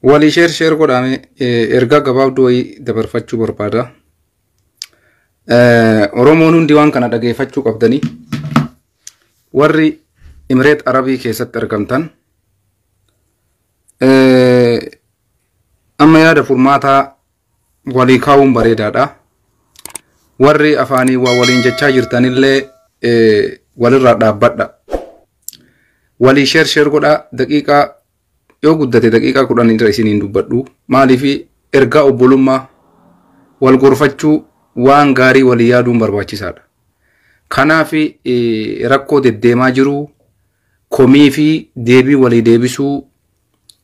Walii sheer sheer godhaame ergaa gabaabduu wayii dabarfachuu barbaada. Oromoon hundi waan kana dhageeffachuu qabdanii warri Imireet Arabii keessatti argamtan Amma yaada furmaataa walii kaa'uun bareedaadha. Warri afaanii waa waliin jechaa jirtanillee walirraa dhaabbadha. Walii sheer sheer godhaa daqiiqaa yoo guddate daqiiqaa kudhan irra isiniin dubbadhu. Maaliif ergaa obbolummaa wal gorfachuu waan gaarii walii yaaduun barbaachisaadha. Kanaaf rakkoo deddeemaa jiru komii fi deebii walii deebisuu,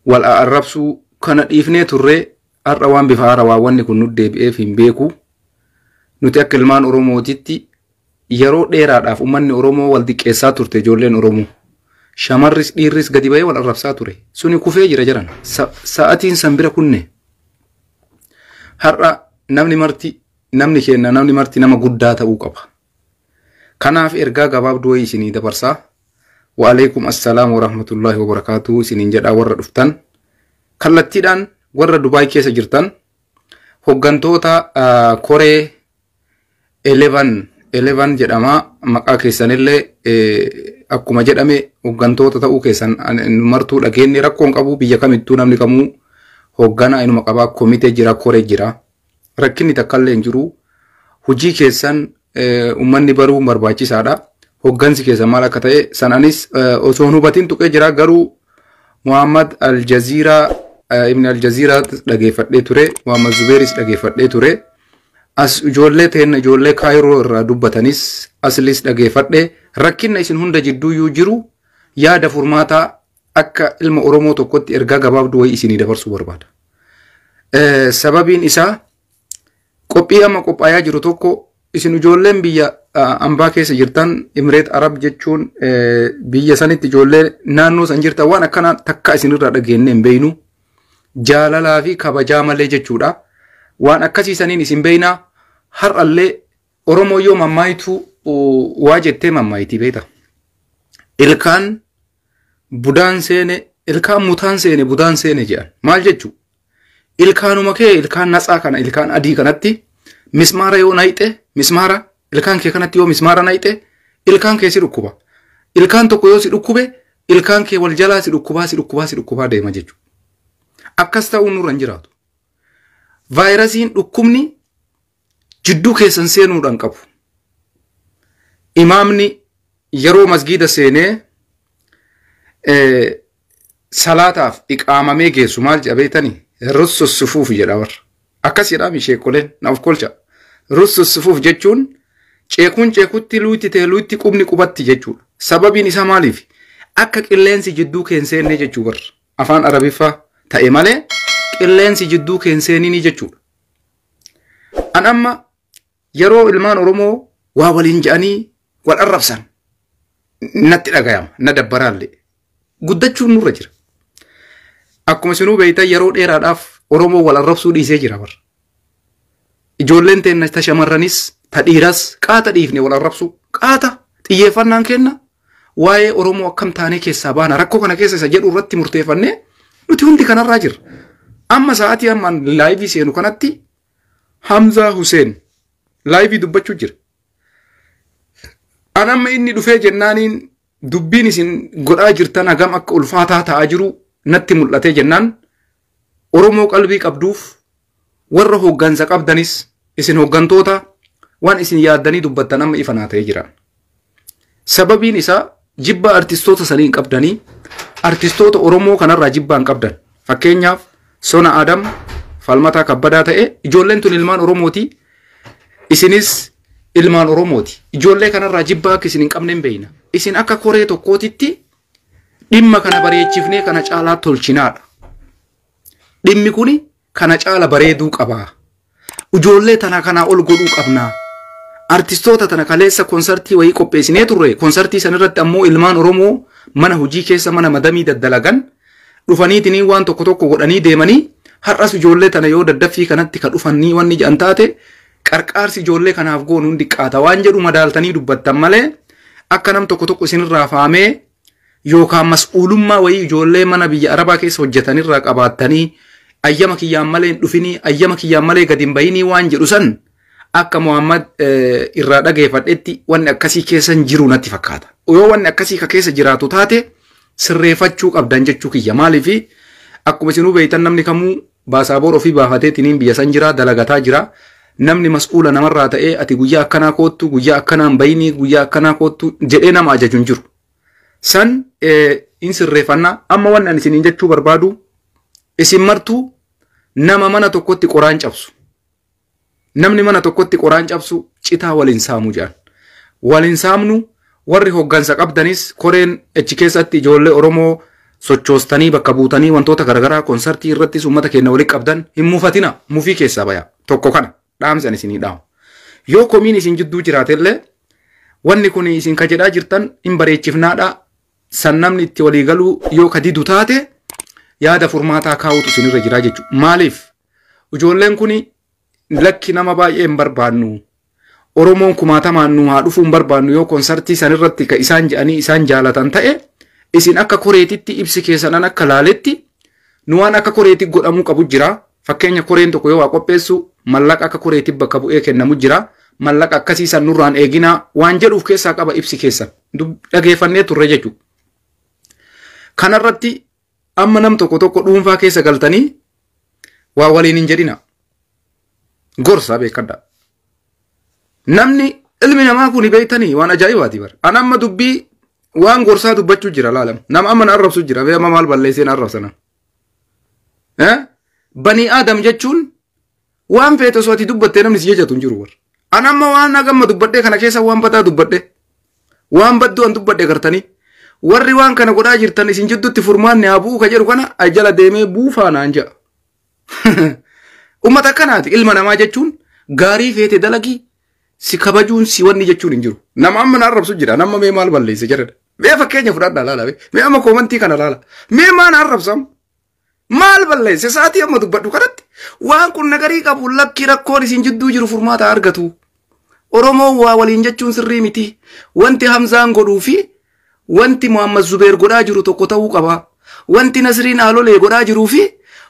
wal a'arrabsuu kana dhiifnee turree har'a waan bifa haarawaa wanni kun nu deebi'eef hin beeku. Nuti akka ilmaan Oromootitti yeroo dheeraadhaaf ummanni Oromoo wal diqqeessaa turte ijoolleen Oromoo. Shamarris dhiirris gadi ba'ee wal arrabsaa ture. Suni kufee jira jiran. Sa'atiin san bira kunne. Har'a namni marti namni keenna namni marti nama guddaa ta'uu qaba. Kanaaf ergaa gabaabduu wayii isinii dabarsaa. Wa'aleekum assalaam wa rahmatullaahi wa barakaatu isiniin jedhaa warra dhuftan. Kallattiidhaan warra Dubaay keessa jirtan hoggantoota ah, koree 11 11 jedhama maqaa keessanillee eh, akkuma jedhame hoggantoota ta'uu keessan an- nu martuu dhageenye rakkoon qabu biyya kamittuu namni kamuu hogganaa inuma qabaa komitee jira koree jira rakkinni takkallee hin jiru. Hojii keessan uummanni baruun barbaachisaadha. Hoggansi keessan maal akka ta'e san anis osoo hin hubatiin tuqee jira garuu Muhammad Aljaziiraa Ibn Aljaziiraa dhageeffadhee ture. Muhammad Zubeeris dhageeffadhee ture. As ijoollee teenna ijoollee kaayiroo irraa dubbatanis aslis dhageeffadhe rakkinna isin hunda jidduuyyuu jiru yaada furmaataa Akka ilma Oromoo tokkotti ergaa gabaabduu wayii isinii dabarsuu barbaada. Eh, Sababiin isaa qophii amma qophaayaa jiru tokko isin ijoolleen biyya ah, ambaa keessa jirtan Imireet Arab jechuun eh, biyya sanitti ijoollee naannoo san jirtan waan akkanaa takka isinirraa dhageenyee hin beeknu. jaalalaa fi kabajaa malee jechuudha. Waan akkasii saniin isin beeknaa har'allee Oromoo yoo mammaayitu waa jettee mammaayitii beekta. Ilkaan budaan seene ilkaan mutaan seene budaan seene jedhan maal jechuu ilkaanuma kee ilkaan natsaa kana ilkaan adii kanatti mismaara yoo nayxe mismaara ilkaan kee kanatti yoo mismaara nayxe ilkaan kee si dhukkuba ilkaan tokko yoo si dhukkube ilkaan kee wal jalaa si dhukkubaa si dhukkubaa si dhukkubaa deema jechuu akkas ta'uu nurra hin jiraatu vaayirasiin dhukkubni jidduu keessan seenuudhaan qabu. Imaamni yeroo masgiida seenee salaataaf iqaamamee geessu maal jedha beektanii? Russu sufuuf jedha warra. Akkas jedhaami sheekoleen na of kolcha. Russu sufuuf jechuun ceekuun ceekutti luutti ta'e luutti qubni qubatti jechuudha. Sababiin isaa maaliif? Akka qilleensi jidduu keen seennee jechuu warra. Afaan Arabiffaa ta'e malee qilleensi jidduu keen seeninii jechuudha. An amma yeroo ilmaan Oromoo waa waliin jedhanii wal arrabsan natti dhagayama na dabbaraallee guddachuun nurra jira. Akkuma isinuu beektan yeroo dheeraadhaaf Oromoo wal arrabsuu dhiisee jira barra. Ijoolleen teenna ta shamarranis ta dhiiras qaata dhiifne wal arrabsuu qaata xiyyeeffannaan kenna waa'ee Oromoo akkam taanee keessaa baana rakkoo kana keessa isa jedhu irratti murteeffannee nuti hundi kanarraa jirra. Amma sa'aatii ammaan laayivii seenu kanatti Hamzaa Huseen laayivii dubbachuu jira. An amma inni dhufee jennaaniin dubbiin isin godhaa jirtan hagam akka ulfaataa ta'aa jiru natti mul'atee jennaan Oromoo qalbii qabduuf Warra hooggansa qabdanis isin hooggantoota waan isin yaaddanii dubbattan amma ifa naa ta'ee jira. Sababiin isaa jibba artistoota sanii hin qabdanii artistoota Oromoo kanarraa jibbaa hin qabdan. Fakkeenyaaf Sona Adam falmataa kabbadaa ta'e ijoolleen tun ilmaan Oromooti isinis ilmaan Oromooti. Ijoollee kanarraa jibbaa akka isin hin qabne hin beekna. Isin akka koree tokkootitti dhimma kana bareechifnee kana caalaa tolchinaadha. Dhimmi kun kana caala bareeduu qaba. Ijoollee tana kanaa ol godhuu qabna. Artistoota tana kaleessa konsartii wayii qopheessinee turre. Konsartii san irratti ammoo ilmaan Oromoo mana hojii keessa mana madamii daddalagan dhufaniitinii waan tokko tokko godhanii deemanii har'as ijoollee tana yoo daddaffii kanatti ka dhufanii wanni jedhan taate qarqaarsi ijoollee kanaaf goonu hin diqqaata waan jedhu madaaltanii dubbattan malee akka nam tokko tokko isinirraa faamee yookaan mas'uulummaa wayii ijoollee mana biyya Arabaa keessa hojjetan irraa qabaattanii ayyama kiyyaan malee hin dhufinii ayyama kiyyaan malee gadi hin bayinii waan jedhu san akka Muhammad irraa dhageeffadhetti wanni akkasii keessa hin jiru natti fakkaata. Yoo wanni akkasii ka keessa jiraatu taate sirreeffachuu qabdan jechuu kiyya maaliifi akkuma isinuu beektan namni kamuu Baasaabor ofii baafateetiniin biyya san jira, dalagataa jira. Namni mas'uula namarraa ta'ee ati guyyaa akkanaa koottu, guyyaa akkanaa hin bayinii, guyyaa akkanaa koottu jedhee nama ajaju hin jiru. San hin sirreeffanna. Amma wanni ani isiniin jechuu barbaadu isin martuu nama mana tokkotti qoraan cabsu. Namni mana tokkotti qoraan cabsu citaa waliin saamuu jedhan. Waliin saamnu warri hoggansa qabdanis koreen achi keessatti ijoollee Oromoo sochoostanii bakka buutanii wantoota garaagaraa konsartii irrattis uummata keenya waliin qabdan hin mufatina mufii keessaa baya tokko kana dhaamsan isinii dhaamu. Yoo komiin isin jidduu jiraatellee wanni kun isin ka jedhaa jirtan hin bareechifnaadha san namni itti walii galuu yoo ka didu taate yaada furmaataa kaa'uutu isinirra jiraa jechuudha. Maaliif? Ijoolleen kun lakki nama baay'ee hin barbaannu. Oromoon kumaatamaan nu haa dhufuu hin barbaannu yoo konsartii san irratti ka isaan jedhanii isaan jaalatan ta'e isin akka koreetitti ibsi keessanan akka laaletti nu waan akka koreetti godhamuu qabu jira. Fakkeenya koreen tokko yoo waa qopheessu mallaqa akka koreetti bakka bu'ee kennamu jira. Mallaqa akkasii san nurraan eeginaa waan jedhuuf keessaa qaba ibsi keessan. Dhageeffannee turre jechuudha. Kanarratti Amma nam tokko tokko dhuunfaa keessa galtanii waa waliin hin jedhina. Gorsa beekadha. Namni ilmi namaa kun beektanii waan ajaa'ibaati bara. An amma dubbii waan gorsaa dubbachuu jira laalam. Nama amma na arrabsu jira. Amma maal balleessee na arrabsana. Banii Aadam jechuun Waan feetu osoo ati dubbattee namni si jajatu hin jiru warra. An amma waan nagamma dubbadhee kana keessa waan badaa dubbadhee. Waan badduu an dubbadhe gartanii. Warri waan kana godhaa jirtan isin jidduutti furmaanni haa bu'uu ka jedhu kana a jala deemee buufaa naan ja'a. Uummata akkanaati ilma namaa jechuun gaarii feete dalagii si kabajuun si wanni jechuun hin jiru. Nama amma na arrabsu jira nama mee maal balleesse jedhadha. Mee fakkeenya fudhadha laala mee amma koomantii kana laala. Mee maan arrabsam? Maal balleesse sa'aatii amma dubbadhu kanatti waan kun nagarii qabu lakkii rakkoon isin jidduu jiru furmaata argatu. Oromoon waa waliin jechuun sirrii miti. Wanti Hamzaan godhuu fi wanti Muhammad Zubeer godhaa jiru tokko ta'uu qaba. Wanti Nasriin Aalolee godhaa jiruu fi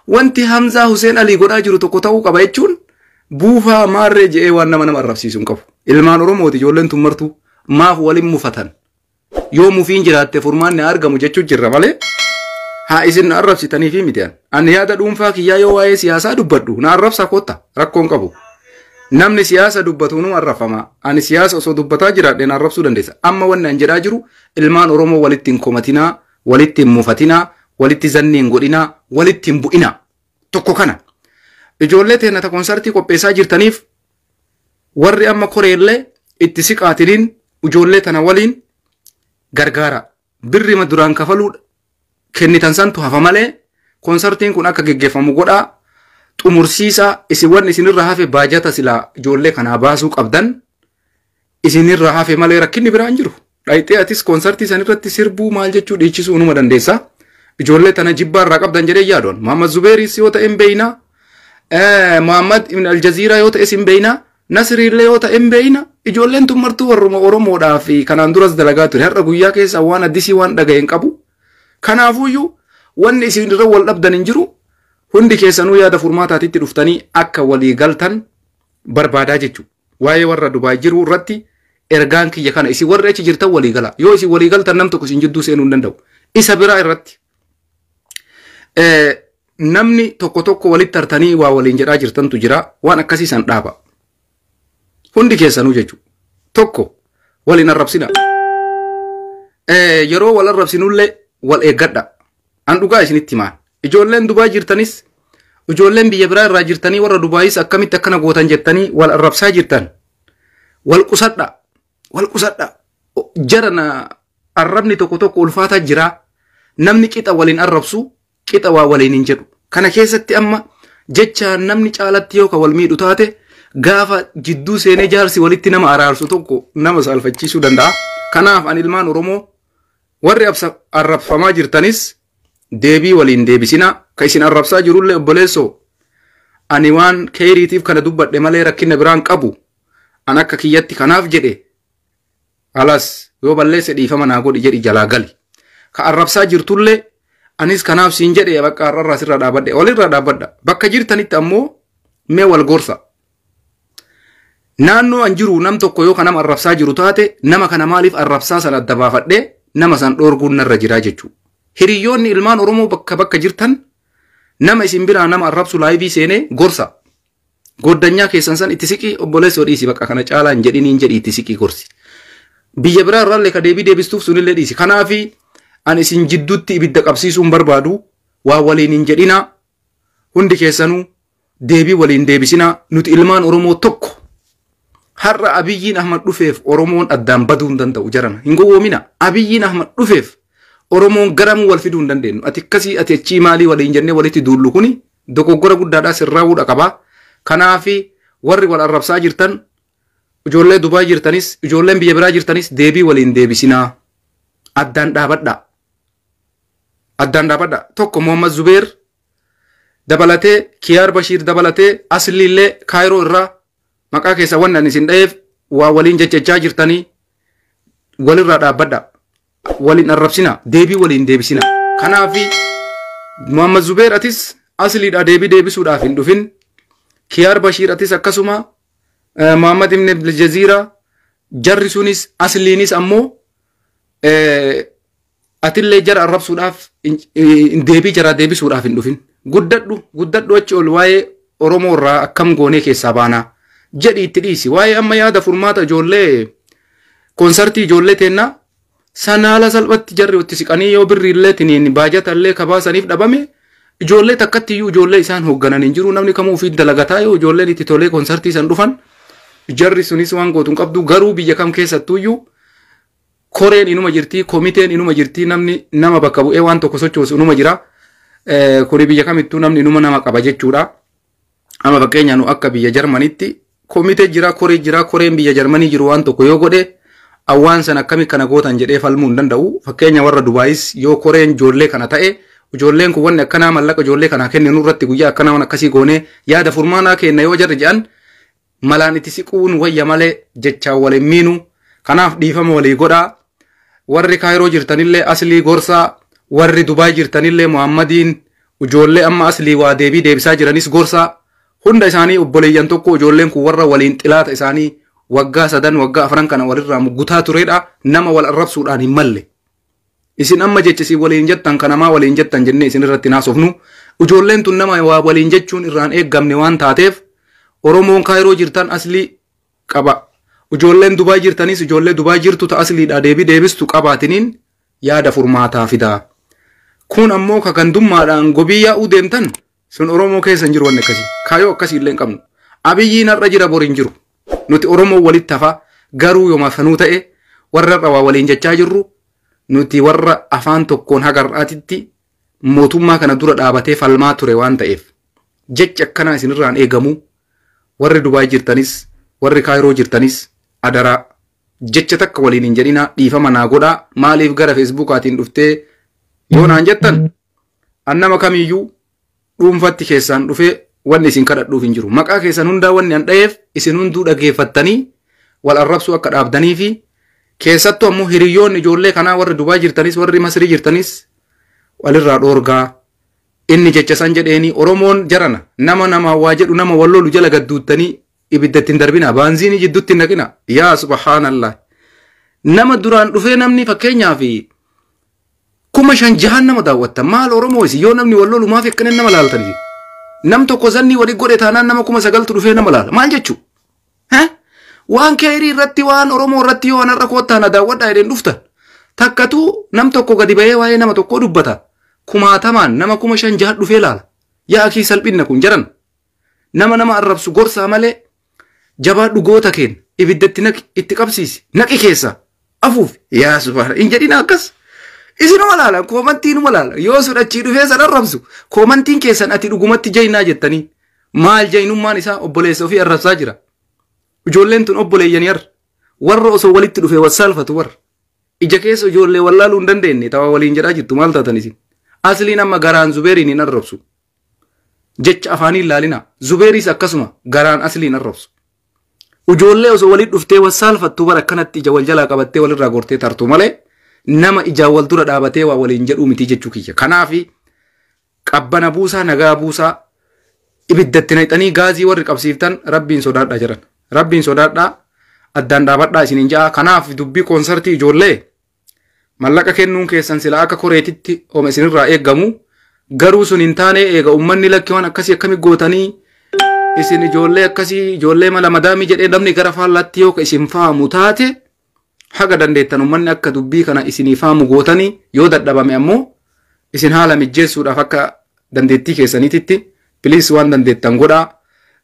wanti Hamzaa Huseen Alii godhaa jiru tokko ta'uu qaba jechuun buufaa maarree je'ee waan nama nama arrabsiisu hin qabu. Ilmaan Oromooti ijoolleen tun martuu maaf walin mufatan? Yoo mufiin jiraatte furmaanni haa argamu jechuu jirra malee haa isin na arrabsitanii fi miti an. Ani yaada dhuunfaa kiyyaa yoo waa'ee siyaasaa dubbadhu na arrabsaa kotta rakkoon qabu. Namni siyaasa dubbatu nu arrafama. Ani siyaasa osoo dubbataa jiraadhe na arrabsuu dandeessa. Amma wanni an jedhaa jiru ilmaan Oromoo walitti hin komatinaa, walitti hin mufatinaa, walitti zanni hin godhinaa, walitti hin bu'inaa. Tokko kana. Ijoollee teennata konsartii qopheessaa jirtaniif warri amma koreellee itti siqaatiniin ijoollee tana waliin gargaara birrima duraan kafaluu kennitan santu hafa malee konsartiin kun akka geggeeffamu godhaa xumursiisaa isin wanni isinirra hafe baajata silaa ijoollee kanaa baasuu qabdan isinirra hafe malee rakkinni biraa hin jiru. Dhayxee atis konsartii san irratti sirbuu maal jechuu dhiichisuu numa dandeessa. Ijoollee tana jibbaa irraa qabdan jedhee yaadoon. Muhammad Zubeeris yoo ta'e hin beeyna. Muhammad Ibn Aljaziiraa yoo ta'es hin beeyna. Nasiriillee yoo ta'e hin beeyna. Ijoolleen tun martuu warruma Oromoodhaa fi kanaan duras dalagaa ture. Har'a guyyaa keessa waan addisii waan dhagahe hin qabu. Kanaafuyyuu wanni isin irra wal dhabdan hin jiru. Hundi keessanuu yaada furmaataatitti dhuftanii akka walii galtan barbaadaa jechuudha. Waa'ee warra Dubaay jiruu irratti ergaan kiyya kana isin warri achi jirtan walii galaa. Yoo isin walii galtan nam tokko isin jidduu seenuu hin danda'u. Isa biraa irratti namni tokko tokko walitti tartanii waa waliin jedhaa jirtantu jira waan akkasii san dhaaba. Hundi keessanuu jechuudha. Tokko waliin arrabsina. Yeroo wal arrabsinullee wal eeggadha. An dhugaa isinitti himaan. Ijoolleen Dubaay jirtanis, ijoolleen biyya biraa irraa jirtanii warra Dubaayis akkamitti akkana gootan jettanii wal arrabsaa jirtan. Wal qusadha. Wal qusadha. O- Jara na arrabni tokko tokko ulfaataa jira. Namni qixa waliin arrabsu qixa waa waliin hin jedhu. Kana keessatti amma jecha namni caalatti yoo ka wal miidhu taate gaafa jidduu seenee jaarsi walitti nama araarsu tokko nama saalfachiisuu danda'a. Kanaaf an ilmaan Oromoo Warri absa- arrabfamaa jirtanis deebii waliin deebisinaa ka isin arrabsaa jirullee obboleessoo ani waan keeyriitiif kana dubbadhe malee rakkina biraan qabu an akka kiyyatti kanaaf jedhe alas yoo balleesse dhiifama naa godhi jedhi jalaa gali ka arrabsaa jirtullee anis kanaaf siin jedhe bakka har'arraa sirraa dhaabadhe walirraa dhaabadha bakka jirtanitti ammoo mee wal gorsa Naannoo an jiru nam tokko yoo kan nama arrabsaa jiru taate nama kana maaliif arrabsaa sana adda baafadhee nama san dhoorguun narra jiraa jechuu. Hiriyoonni ilmaan Oromoo bakka bakka jirtan nama isin biraa nama arrabsu laayivii seenee gorsa. Goddanyaa keessan san itti siqii obboleessoo dhiisi bakka kana caalaa hin jedhin hin jedhi itti siqii gorsi. Biyya biraa irraallee ka deebii deebistuuf sunillee dhiisi. Kanaafi an isin jidduutti ibidda qabsiisuun barbaadu waa waliin hin jedhinaa hundi keessanuu deebii waliin deebisinaa nuti ilmaan Oromoo tokko har'a Abiyyiin Ahmad dhufeef Oromoon addaan baduu hin danda'u jarana hin gowwoomina Abiyyiin Ahmad dhufeef Oromoon garamuu wal fiduu hin dandeenyu ati akkasii ati achii maalii waliin jennee walitti duullu kuni dogoggora guddaadhaa sirraa'uudha qabaa kanaafi warri wal arrabsaa jirtan ijoollee Dubaay jirtanis ijoolleen biyya biraa jirtanis deebii waliin deebisinaa addaan dhaabadhaa addaan dhaabadhaa tokko Muhammad Zubeer dabalatee Kiyaar Bashiir dabalatee asliillee Kaayiroo irraa maqaa keessa wanni ani isin dhaheef waa waliin jechachaa jirtanii walirraa dhaabbadha. Waliin arrabsina deebii waliin deebisina. Kanaaf Muhammad Zubeer atis asliidha deebii deebisuudhaaf hin dhufin. Kiyaar Bashiir atis akkasuma eh, Muhammad Ibn Abdul Jaziira jarri sunis asliinis ammoo eh, atillee jara arrabsuudhaaf deebii jaraa deebisuudhaaf hin dhufin. Guddadhu guddadhu achi ol waa'ee Oromoo irraa akkam goonee keessaa baanaa jedhi itti dhiisi. Waa'ee amma yaada furmaata ijoollee konsartii ijoollee teennaa sana haala salphatti jarri itti siqanii yoo birrii illee tiniin baajata illee kabaasaniif dhabame ijoollee takkatti iyyuu ijoollee isaan hoogganan hin jiru namni kamuu ofiin dalagataa yoo ijoolleen itti tolee konsartii san dhufan jarri sunis waan gootu hin qabdu garuu biyya kam keessattuu iyyuu koreen inuma jirti, komiteen inuma jirti, namni nama bakka bu'ee waan tokko sochoosu inuma jira. Eh, Kuni biyya kamittuu namni inuma nama qaba jechuudha. Amma fakkeenya nu akka biyya Jarmanitti komitee jira, koree jira, koreen biyya Jarmanii jiru waan tokko yoo godhe awwaan san akkami kana gootan jedhee falmuu hin danda'u. Fakkeenya warra Dubaayis yoo koreen ijoollee kana ta'e ijoolleen kun wanni akkanaa mallaqa ijoollee kanaa kenninu irratti guyyaa akkanaa waan akkasii goonee yaada furmaanaa kenna yoo jarri jedhan malaan itti siquun wayya malee jechaan wal hin miinu kanaaf dhiifama walii godhaa warri kaayiroo jirtanillee aslii gorsaa warri dubaay jirtanillee muhammadiin ijoollee amma aslii waa deebii deebisaa jiranis gorsaa hunda isaanii obboleeyyan tokko ijoolleen kun warra waliin xilaata isaanii waggaa sadan waggaa afran kana walirraa muggutaa turedha nama wal arrabsuudhaan hin malle Isin amma jecha isin waliin jettan kana maa waliin jettan jennee isin irratti hin haasofnu. Ijoolleen tun nama waa waliin jechuun irraan eeggamne waan taateef Oromoon Kaayiroo jirtan aslii qaba. Ijoolleen Dubaay jirtanis ijoollee Dubaay jirtu ta asliidhaa deebii deebistu qabaatiniin yaada furmaataa fidaa. Kun ammoo ka gandummaadhaan gobii yaa'uu deemtan Sun Oromoo keessa hin jiru wanni akkasii. Kaayoo akkasii illee hin qabnu. Abiyyiin har'a jira bor hin jiru. Nuti Oromoo walitti hafa garuu yomaaf sanuu ta'e warra har'a waa waliin jechaa jirru nuti warra afaan tokkoon haga har'aatitti mootummaa kana dura dhaabatee falmaa ture waan ta'eef jechi akkanaa isinirraan eegamu warri Dubaay jirtanis warri Kaayiroo jirtanis adaraa jecha takka waliin hin jedhinaa dhiifama naa godhaa maaliif gara feesbuukaatiin dhuftee yoo naan jettan An nama kamiiyyuu dhuunfatti keessaan dhufee wanni isin kadhadhuuf hin jiru. Maqaa keessan hundaa wanni an dhaheef isin hunduu dhageeffattanii wal arrabsuu akka dhaabdanii fi keessattuu ammoo hiriyoonni ijoollee kanaa warri Dubaay jirtanis warri Masrii jirtanis walirraa dhoorgaa inni jecha san jedheeni Oromoon jarana nama namaa waa jedhu nama wal lolu jala gadduuttanii ibidda ittiin darbinaa baanziinii jidduutti hin naqina yaa subhaanallah nama duraan dhufee namni fakkeenyaa fi kuma shan jahan nama daawwatta maal oromoo isin yoo namni wal lolu maaf akkana nama laaltan isin nam tokko zannii wali godhe taanaan nama kuma sagaltu dhufee nama laala maal jechuu Heh? waan keerii irratti waan oromoo irratti yoo anarra koottaa na daawwadhaa jedheen dhuftan takkatu nam tokko gadi bahee waa'ee nama tokkoo dubbata kumaatamaan nama kuma shan jahan dhufee laala yaa akii salphinna kun jaran nama nama arrabsu gorsaa malee jabaadhu goota keen ibidda itti naqi itti qabsiisi naqi keessa afuuf yaa subhaana hin jedhina akkas isinuma laalan koomantiinuma laalan yoo sun achii dhufee san arrabsu koomantiin keessan ati dhugumatti jaynaa jettanii maal jaynummaan isaa obboleessa ofii arrabsaa jira ijoolleen tun obboleeyyanii arra warra osoo walitti dhufee wassaalfatu warra ija keessa ijoollee wallaaluu hin dandeenye tawa waliin jedhaa jirtu maal taatan isin asliin amma garaan zubeeriin hin arrabsu jecha afaanii hin laalinaa zubeeriis akkasuma garaan asliin arrabsu ujoollee osoo waliin dhuftee wal saalfattuu bara akkanatti ija wal jalaa qabattee walirraa gortee tartu malee nama ijaan wal dura dhaabatee waa waliin jedhuu mitii jechuu kiyya kanaafi qabbana buusaa nagaa buusaa ibiddatti naqxanii gaazii warri qabsiiftan rabbiin sodaadhaa jedhan rabbiin sodaadhaa addaan dhaabadhaa isiniin ja'a kanaaf dubbii koonsartii ijoollee Mallaqa kennuun keessan silaa akka koreetitti homa isinirraa eegamu garuu sun hin taane eega ummanni lakki waan akkasii akkami gootanii isin ijoollee akkasii ijoollee mala madaamii jedhee namni gara faallaatti yoo ka isin faamu taate haga dandeettan ummanni akka dubbii kana isinii faamu gootanii yoo dadhabame ammoo isin haala mijjeessuudhaaf akka dandeettii keessaniititti piliis waan dandeettan godhaa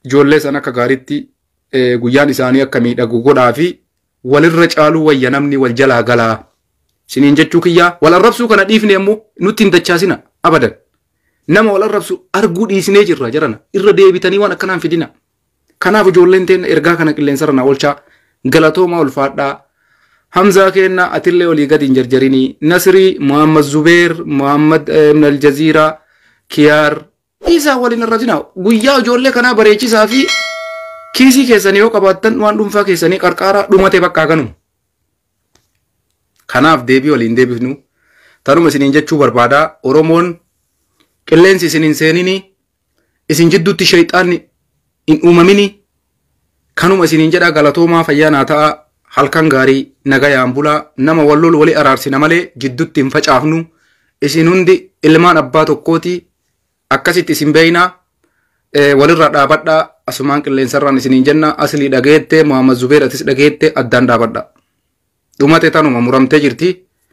ijoollee san akka gaariitti eh, guyyaan isaanii akka miidhagu godhaa fi walirra caaluu wayya namni wal jalaa galaa siniin jechuu kiyyaa wal arrabsuu kana dhiifne ammoo nutti hin dachaasina abadan nama wal arrabsu arguu dhiisnee jirra jarana irra deebitanii waan akkanaan fidina kanaaf ijoolleen teen ergaa kana qilleensarra na oolchaa galatoomaa ulfaadhaa hamzaa keenna atillee olii gadi hin jarjarinii nasirii muhammad zubeer muhammad ibn aljaziiraa kiyaar Dhiisaa wal hin arratinaa. Guyyaa ijoollee kanaa bareechisaa fi kiisii keessanii yoo qabaattan waan dhuunfaa keessanii qarqaaraa dhumate bakka kanuma. Kanaaf deebii waliin deebifnu tanuma isiniin jechuu barbaadaa Oromoon qilleensi isin hin seenini isin jidduutti sheexaanni hin uumamini kanuma isiniin jedhaa galatoomaa fayyaa naa ta'aa halkan gaarii nagayaan bulaa nama wal lolu wali araarsina malee jiddutti hin facaafnu isin hundi ilmaan abbaa tokkooti akkasitti isin beeynaa eh, walirraa dhaabadhaa asumaan qilleensarraan isiniin jenna aslii dhageette muhammad zubeer atis dhageette addaan dhaabadhaa dhumate tanuma muramtee jirti